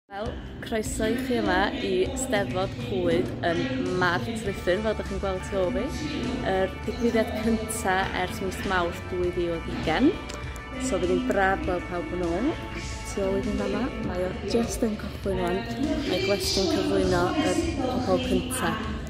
Wel, croeso i chi yma i Steddfod Clwyd yn Mart Ruthun, fel ydych chi'n gweld tu ôl fi. Yr digwyddiad cyntaf ers mis Mawrth 2020. So bydd hi'n braf gweld pawb yn ôl. Tu ôl i fi'n fanna, mae o just yn cychwyn rwan. Mae Gwestiwn cyflwyno y pobol cyntaf.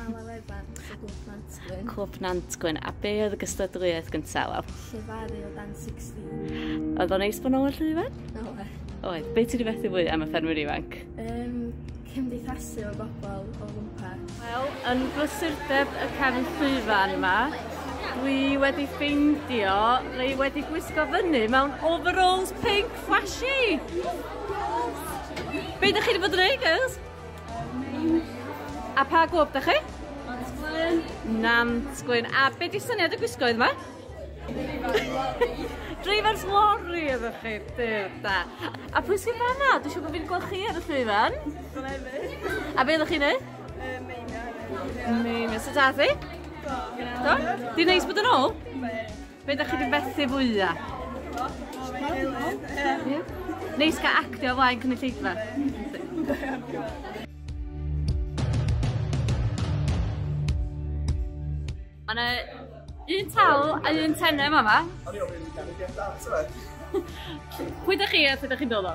Am y wefan o Glwb Nantgwyn. Clwb Nantgwyn. A be oedd y gystadleuaeth gyntaf, Wel? Llefaru o dan 16. Oedd o'n neis bod nôl yn llwyfan? Oe. Oe. Be ti'n rhywbeth i fwy am y ffermwyr ifanc? Um, cymdeithasu o bobl o gwmpas. Wel, yn brysurdeb y cefn llwyfan yma, dwi wedi ffeindio neu wedi gwisgo fyny mewn overalls pink flashy. Be ydych chi wedi bod yn ei, girls? A pa glwb da chi? Nant Gwyn. Nant Gwyn. A be di syniad y gwisgo yma? Drivers lorry ydych chi, dyr da. A pwy sy'n fanna? Dwi'n siŵr bod fi'n gweld chi ar y llwyfan. Glefyd. A be ydych chi'n ei? Meina. Meina. Sut ath i? Do. Di'n neis bod yn ôl? Be? Be ydych chi wedi fethu fwya? Neis gael actio o flaen cynulleidfa. Mae yna un tal a un tenem yma. Pwy ydych chi a pwy ydych chi'n dod o?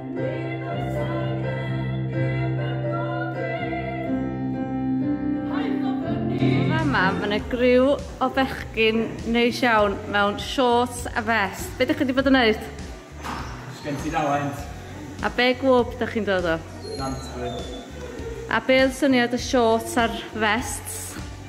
Fama, mae yna griw o bechgyn neis iawn mewn shorts a vest. Be da chi wedi bod yn neud? Sgen ti dalent. A be gwb da chi'n dod o? Nantwyn. A be oedd syniad y shorts a'r vests?